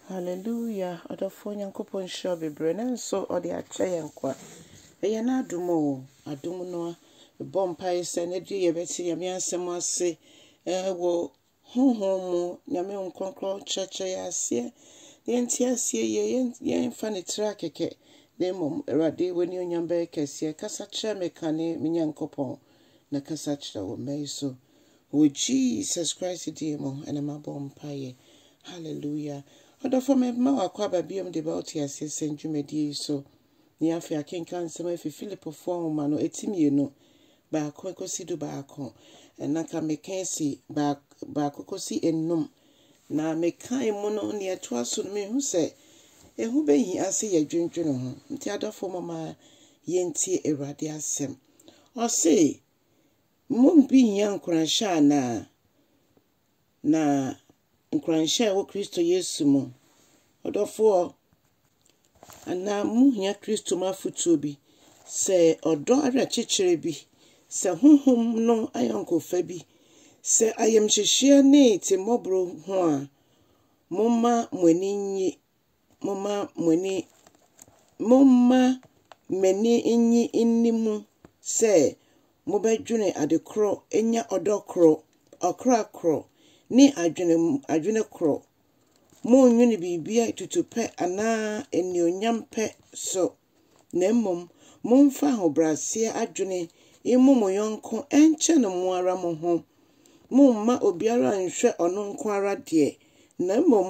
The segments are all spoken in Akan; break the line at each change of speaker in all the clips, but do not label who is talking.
Hallelujah ɔdɔfoɔ Nyankopɔn nhyira wo bebree nanso ɔde akyɛ yɛn nkwa ɛyɛ n'adom o adom no a ɛbɔ mpaeɛ sɛ na bie yɛbɛte Nyame asɛm ase ɛwɔ honhom mu Nyame wo nkrɔnkrɔn kyerɛkyerɛ yɛ aseɛ na yɛnte aseɛ yie yɛmfa ne tiri akɛkɛ na mmom Awurade w'ani onyam bɛyɛ kɛseɛ kasa kyerɛ me kane me Nyankopɔn na kasa kyerɛ wo mma yi so Wɔ Jesus Christ din mu na mabɔ mpaeɛ. Hallelujah. Ɔdɔfoɔ mema wo akwaaba biom de ba wo teaseɛ sɛm dwumadie yi so. Ne afei akenkan nsɛm afi Filipofoɔ nwoma no eti mmienu, baako ekosi du baako. Ɛna ka meka esi baako kosi enum. Na meka emu no nea ɛtoa so no mehu sɛ ehu behi ase yɛ dwendwene ho. Nti adɔfoɔ mama yɛntie Awurade asɛm. Ɔse, Mmom bi hia nkuranhyɛ anaa? Na nkuranhyɛ a ɛwɔ Kristo Yesu mu. Ɔdɔfoɔ, anaa mohia Kristo mu afotuo bi, sɛ ɔdɔ awerɛkyekyerɛ bi, sɛ honhom no ayɔnkofa bi, sɛ ayamhyehyeɛ ne timmɔborɔ ho a, momma mo ani nnye. momma mo ani, momma m'ani nnye nni mu sɛ mobɛdwene ade korɔ, anya ɔdɔ korɔ, ɔkra korɔ, ne adwene adwene korɔ. Monnwene biribiara tutupɛ anaa anuonyampɛ so, na mmom momfa ahobrɛaseɛ adwene mmu mo yɔnko nkyɛn mo ara mo ho. Momma obiara nhwɛ ɔno nko ara deɛ, na mmom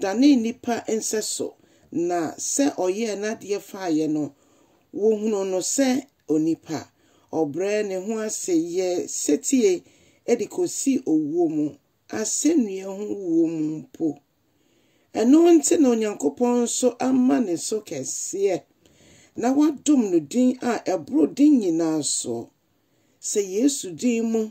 danee nnipa nsɛso, na sɛ ɔyɛɛ n'adeɛ faeɛ no, wɔhunuu no sɛ onipa. Ɔbrɛɛ ne ho ase yɛɛ setie de kɔsii owuo mu, asɛnnua ho wuo mu mpo. Ɛno nti na Onyankopɔn nso ama ne so kɛseɛ, na wadom no din a ɛboro din nyinaa soɔ, sɛ Yesu din mu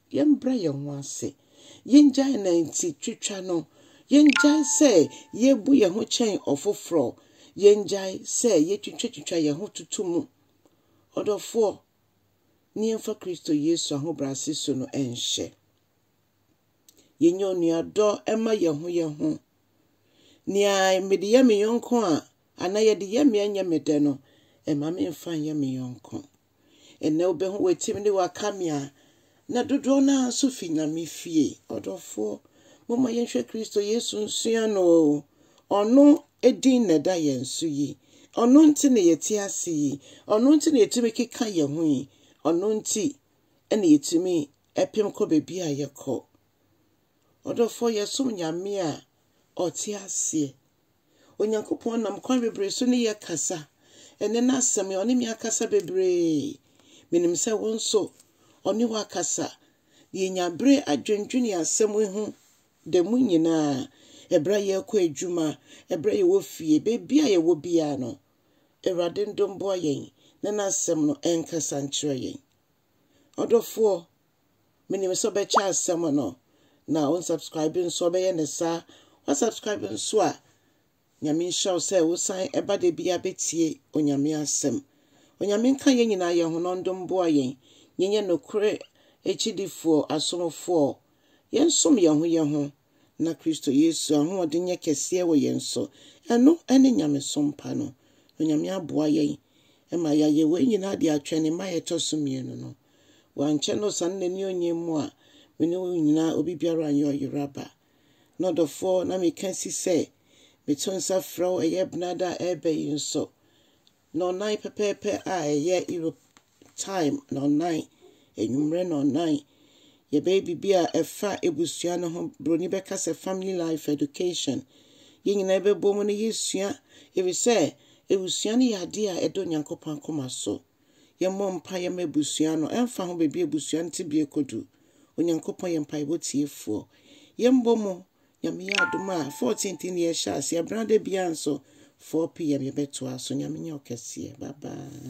Yɛmbrɛ yɛn ho ase. Yengyae nantitwitwa no. Yengyae sɛ yebu yɛn ho kyɛn ɔfoforɔ. Yengyae sɛ yetwitwatwitwa yɛn ho toto mu. Ɔdɔfoɔ, ne yɛmfa Kristo Yesu ahobrɛase su no nhyɛ. Yɛnyɛ onuadɔ mma yɛn ho yɛn ho. Nea mede yɛ me yɔnko a, anaa yɛde yɛ me a ɛnyɛ me dɛ no, mma memfa nyɛ me yɔnko. Ɛnnɛ wobɛhu w'atim ne w'akamea, na dodoɔ no ara nso fi Nyame fie. Ɔdɔfoɔ, momma yɛnhwɛ Kristo Yesu nsua no o. Ɔno din na ɛda yɛn so yi. Ɔno nti na yɛte ase yi. Ɔno nti na yɛtumi keka yɛn ho yi. Ɔno nti na yɛtumi pem kɔ baabi a yɛkɔ. Ɔdɔfoɔ, yɛsom Nyame a ɔte aseɛ. Onyankopɔn nam kwan bebree so ne yɛn kasa. Ɛnnɛ n'Asɛm yi, ɔne me akasa bebree. Menim sɛ wo nso, ɔne wo akasa. Yɛnya bere adwendwene yɛn asɛm yi ho da mu nyinaa, ɛberɛ a yɛrekɔ adwuma, ɛberɛ a yɛwɔ fie, baabi a yɛwɔ biara no. Awurade ndom boa yɛn na n'Asɛm no ɛnkasa nkyerɛ yɛn. Ɔdɔfoɔ, menim sɛ ɔbɛkyɛ asɛm no na wo subscribe nso ɔbɛyɛ ne saa wa subscribe nso a nyame nhyira wo sɛ wosan ɛba da bia bɛtie onyame asɛm onyame nka yɛn nyinaa yɛn ho nɔndom boa yɛn yɛnyɛ nokore akyidifoɔ asomfoɔ yɛnsom yɛn ho yɛn ho na Kristo Yesu ahoɔden nyɛ kɛseɛ wɔ yɛn so, ɛno ne nyamesom pa no. Onyame aboa yɛn ma yɛayɛ wei nyinaa de atwɛn Ne mmaeɛ a ɛtɔ so mmienu no. Wankyɛ na ɔsane N'ani ɔnyɛ mu a, me ne wo nyinaa obi biara nyɛ ɔyera ba. Na ɔdɔfoɔ, na meka si sɛ meto nsa frɛ wo ɛyɛ benada a ɛreba yi nso, Nnɔnnan pɛpɛɛpɛ a ɛyɛ Europe time nnɔnnan, anwummerɛ nnɔnnan. Yɛbɛyɛ biribi a ɛfa abusua no ho. Buroni bɛka sɛ family life education. Yɛn nyinaa bɛbɔ mu na yɛsua ɛfiri sɛ abusua no yɛ adeɛ a ɛda Onyankopɔn akoma so. Yɛmmɔ mpaeɛ mma abusua no. Ɛmfa ho baabi a abusua no tebea kɔdu, Onyankopɔn yɛ mpaebɔ tiefoɔ. Yɛmbɔ mu Nyame yɛ adom a 14th ne yɛhyɛ aseɛ, brada biaa nso 4pm yɛbɛtoa so, Nyame nyɛ ɔkɛseɛ, bye bye.